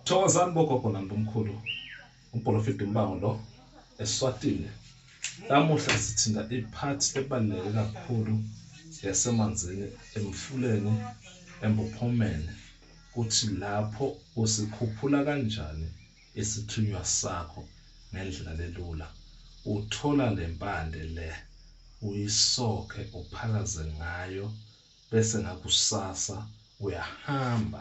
Thokozani bogogo nambumkhulu uprofit umbango lo eswatile namuhla sithinta ipart ebaluleke kakhulu yasemanzini emfuleni embuphomeni kuthi lapho usikhuphula kanjani isithunywa sakho ngendlela lelula uthola lempande le uyisokhe uphalaze ngayo bese ngakusasa uyahamba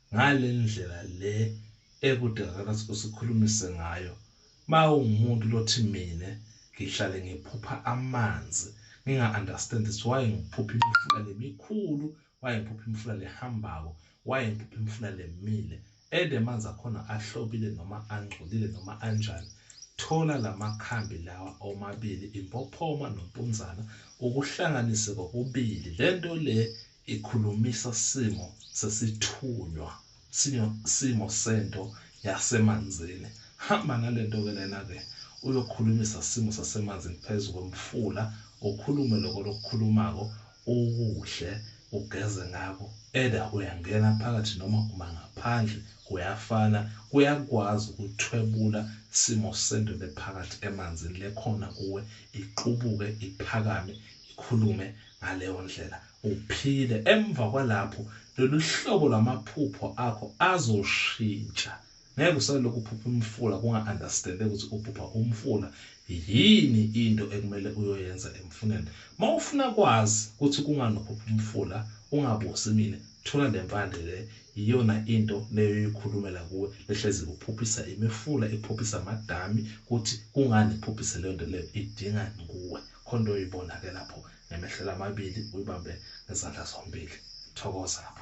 ngale ndlela le ekudalana usikhulumise ngayo ma ungumuntu lothi mina ngihlale ngiphupha amanzi nginga understand ukuthi why ngiphupha imifula lemikhulu why ngiphupha imifula lehambako why ngiphupha imifula lemile ede amanzi akhona ahlobile noma angcolile noma anjani thola lamakhambi lawa omabili impophoma nompunzana ukuhlanganise kokubili lento le ikhulumisa simo sesithunywa sinyo simo sento yasemanzini hamba nalento ke lena ke uyokhulumisa simo sasemanzini phezu kwemfula ukhulume lokho lokukhulumako ukudle ugeze ngako either uyangena phakathi noma uma ngaphandle kuyafana kuyakwazi ukuthwebula simo sento lephakathi emanzini lekhona kuwe iqubuke iphakame ikhulume Ngaleyo ndlela uphile. Emva kwalapho, lolu hlobo lwamaphupho akho azoshintsha. Ngeke usalokhu uphupha umfula kunga-understandeki ukuthi uphupha umfula. Yini into ekumele uyoyenza emfuneni? Uma ufuna kwazi ukuthi kungani uphupha umfula, ungabuzi mina, thola le mpande le. Yiyona into leyo oyoyikhulumela kuwe. Behlezi ikuphuphisa imifula, ikuphuphisa amadami, ukuthi kungani ikuphuphise leyo nto leyo, idingani kuwe. khona into oyibona-ke lapho ngemehlelo amabili uyibambe ngezandla zombili thokoza lapho